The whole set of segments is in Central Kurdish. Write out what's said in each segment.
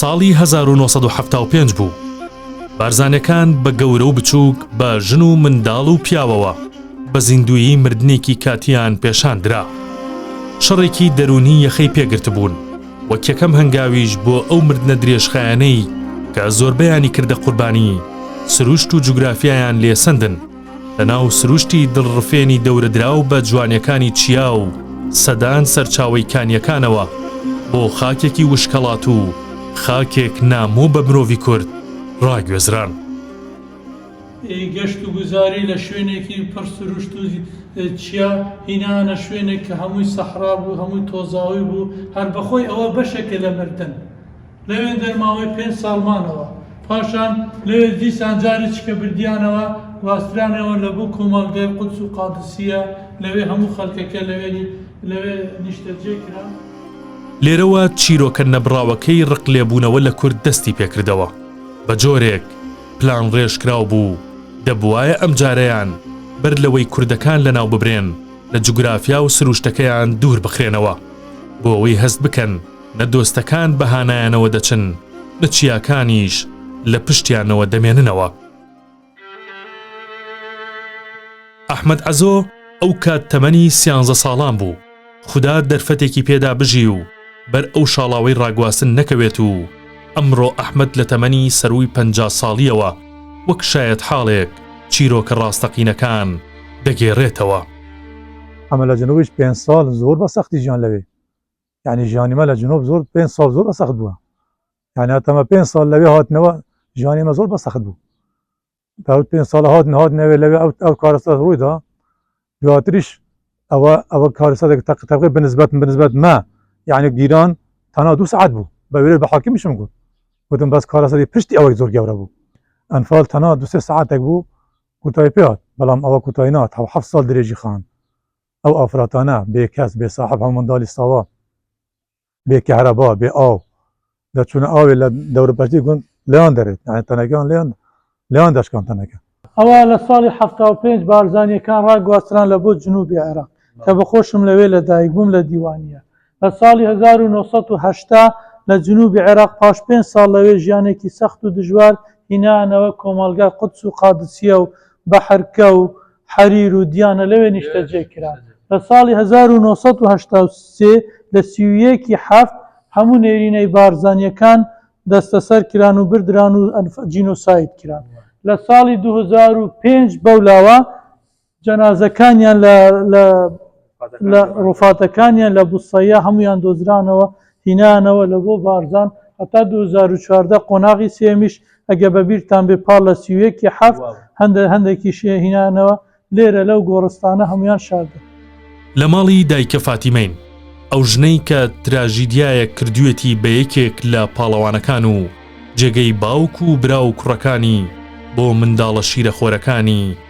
ساڵی هەزار و نۆ سەد و حەفتا و پێنج بوو بارزانەکان بە گەورە و بچووک بە ژن و منداڵ و پیاوەوە بە زیندویی مردنێکی کاتیان پێشان درا شەڕێکی دەروونی یەخەی پێگرتبوون وەک یەکەم هەنگاویش بۆ ئەو مردنە درێژخایەنەی کە زۆربەیانی کردە قوربانی سروشت و جوگرافیایان لێسەندن لەناو سروشتی دڵڕفێنی دەورەدراو بە جوانیەکانی چیا و سەدان سەرچاوەی کانیەکانەوە، بۆ خاکێکی وشکەڵات و خاکێک نامۆ بە مرۆڤی کورد ڕاگوێزران. ی گەشت و گوزاری لە شوێنێکی پڕ سروشت و چیا هینایانە شوێنێک کە هەمووی سەحرا بوو، هەمووی تۆزاوی بوو، هەر بەخۆی ئەوە بەشێکە لە مردن، لەوێ دەرماوەی پێنج ساڵ مانەوە، پاشان لەوێ دیسان جاریچکە بردیانەوە، گواسترانەوە لە بۆ کۆمەڵگای قودس و قادسیە، لەوێ هەموو خەلکەکە لەوێ نیشتەجێ کران. لێرەوە چیرۆکە نەبڕاوەکەی ڕقلێبوونەوە لە کورد دەستی پێکردەوە، بە جۆرێک پلانڕێژکراو بوو، دەبوایە ئەم جارەیان بەر لەوەی کوردەکان لەناو ببرێن لە جوگرافیا و سروشتەکەیان دوور بخرێنەوە، بۆ ئەوەی هەست بکەن، نە دۆستەکان بە هانایانەوە دەچن، نە چیاکانیش لە پشتیانەوە دەمێننەوە. ئەحمەد عەزۆ ئەو کات تەمەنی سیانزە ساڵان بوو، خودا دەرفەتێکی پێدا بژی و بەر ئەو شاڵاوەی ڕاگواستن نەکەوێت و ئەمڕۆ ئەحمەد لە تەمەنی سەرووی پەنجا ساڵییەوە وەک شایەتحاڵێک چیرۆکە ڕاستەقینەکان دەگێڕێتەوە. ئەمە لە جنوبیش پێنج ساڵ زۆر بە سەختی ژیان لەوێ یعنی ژیانی مە لە جنۆب زۆر پێنج ساڵ زۆر بە سەخت بووە یعنی هاتەمە پێنج ساڵ لەوێ هاتنەوە ژیانی مە زۆر بە سەخت بوو تاوت پێنج ساڵ هات نهات نەوێ لەوێ ئەو ئەو کارەسە ڕوویدا دواتریش ئەوە ئەوە کارەسەێک تەق تەقی بنسبەت بنسبەت مە یعنی گیران تەنا دو سعات بوو بە وێت بە حاکمیشم گوت وتم بەس کارەسەری پشتی ئەوەی زۆر گەورە بوو ئەنفال تەنا دوسێ سعاتێک بوو کوتای پێات بەڵام ئەوە کوتای نات حەف ساڵ درێژی خان ئەو ئافرەتانە بێ کەس، بێ ساحەب هەموو منداڵی ساوا، بێ کەهرەبا، بێ ئاو، دەچوونە ئاوێ لە دەوروبەرچی گوند لێیان دەرێت، یانی تەنەکەیان لێیان لێیان دەشکان تەنەکە. ئەوا لە ساڵی حەفتا و پێنج بارزانییەکان ڕاگواستران لە بۆ جنووبی عێراق کە بە خۆشم لەوێ لە دایک بووم لە دیوانییە لە ساڵی هەزار و نۆ سەد و هەشتا لە جنوبی عێراق پاش پێنج ساڵ لەوێ ژیانێکی سەخت و دژوار هینایانەوە کۆمەڵگای قودس و قادسیە و بەحرکە و حەریر و دیانە لەوێ نیشتەجێ کران لە ساڵی هەزار و نۆ سەد و هەشتا و سێ لە سی و یەک ی حەفت هەموو نێرینەی بارزانیەکان دەستەسەر کران و بردران و جینۆساید کران لە ساڵی دوو هەزار و پێنج بەولاوە جەنازەکانیان لە لە لە ڕووفاتەکانیان لە بوسەیە هەمویان دۆزرانەوە هینانەوە لە بۆ بارزان هەتا 2014 قۆناغی سێمیش ئەگە بە بیرتان بێ پار لە سیوەکی حەفت هەندە هەندێکی شێ هینانەوە لێرە لەو گۆڕستانە هەمویان شاردە. لە ماڵی دایکە فاتیمەین، ئەو ژنەی کە تراژیدیایەک کردوویەتی بە یەکێک لە پاڵەوانەکان و جێگەی باوک و برا و کوڕەکانی بۆ منداڵە شیرەخۆرەکانی،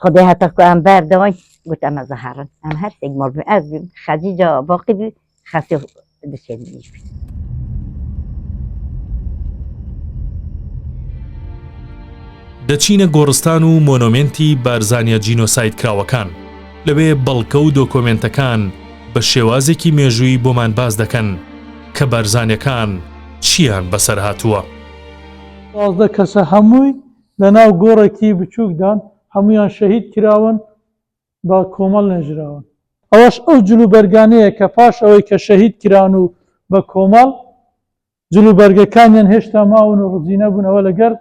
خدای هەتە کو ئەم بار دەوای گوت ئەمە زەهارن ئەم هەرسێک مەڵبێ ئەز بیم خەجی جا باقی بی خەسێ دچێت نیش بی دەچینە گۆڕستان و مۆنۆمنتی بارزانیا جینۆساید کراوەکان لەوێ بەڵکە و دۆکۆمنتەکان بە شێوازێکی مێژووی بۆمان باس دەکەن کە بارزانەکان چیان بەسەر هاتووە. دوازدە کەسە هەمووی لە ناو گۆڕێکی بچووکدان، هەموویان شەهید کراون، بە کۆمەڵ نێژراون. ئەوەش ئەو جلوبەرگانەیە کە پاش ئەوەی کە شەهید کراون و بە کۆمەڵ جلوبەرگەکانیان هێشتا ماون و ڕزیو نەبوون، ئەوە لەگەر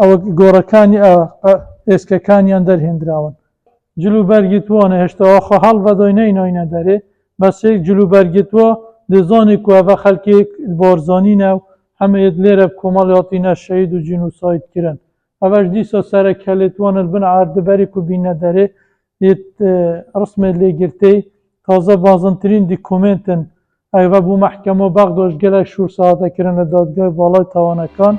ئەوە گۆڕەکانی ئێسکەکانیان دەرهێندراون. جلوبەرگی تووە نەهێشتەوە، خۆ هەڵڤەدۆی نەینۆینە دەرێ، بەس هێک جلوبەرگی تووە دزۆنی کووە، ڤە خەلکیگ بۆرزۆنینە و هەمە یەت لێرەب کۆمەڵ یاڵتینە شەهید و جینوساید کرن. ئەڤەش دیسا سەرە کەێت وەنر بن عاردە بەریک و بینە دەرێ یەت رسمێ لێ گرتێی. تازە بازنترین دیکومێنتن ئەڤە بوو مەحکەمەو بەغداش گەلەک شوور سەهاتە کرنە دادگای باڵای تاوانەکان.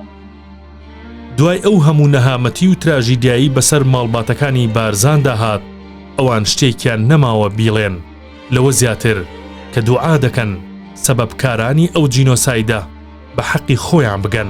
دوای ئەو هەموو نەهامەتی و تراژیدیایی بەسەر ماڵباتەکانی بارزاندا هات ئەوان شتێکیان نەماوە بیڵێن. لەوە زیاتر کە دوعا دەکەن سەبەبکارانی ئەو جینۆسایدە بە حەقی خۆیان بگەن.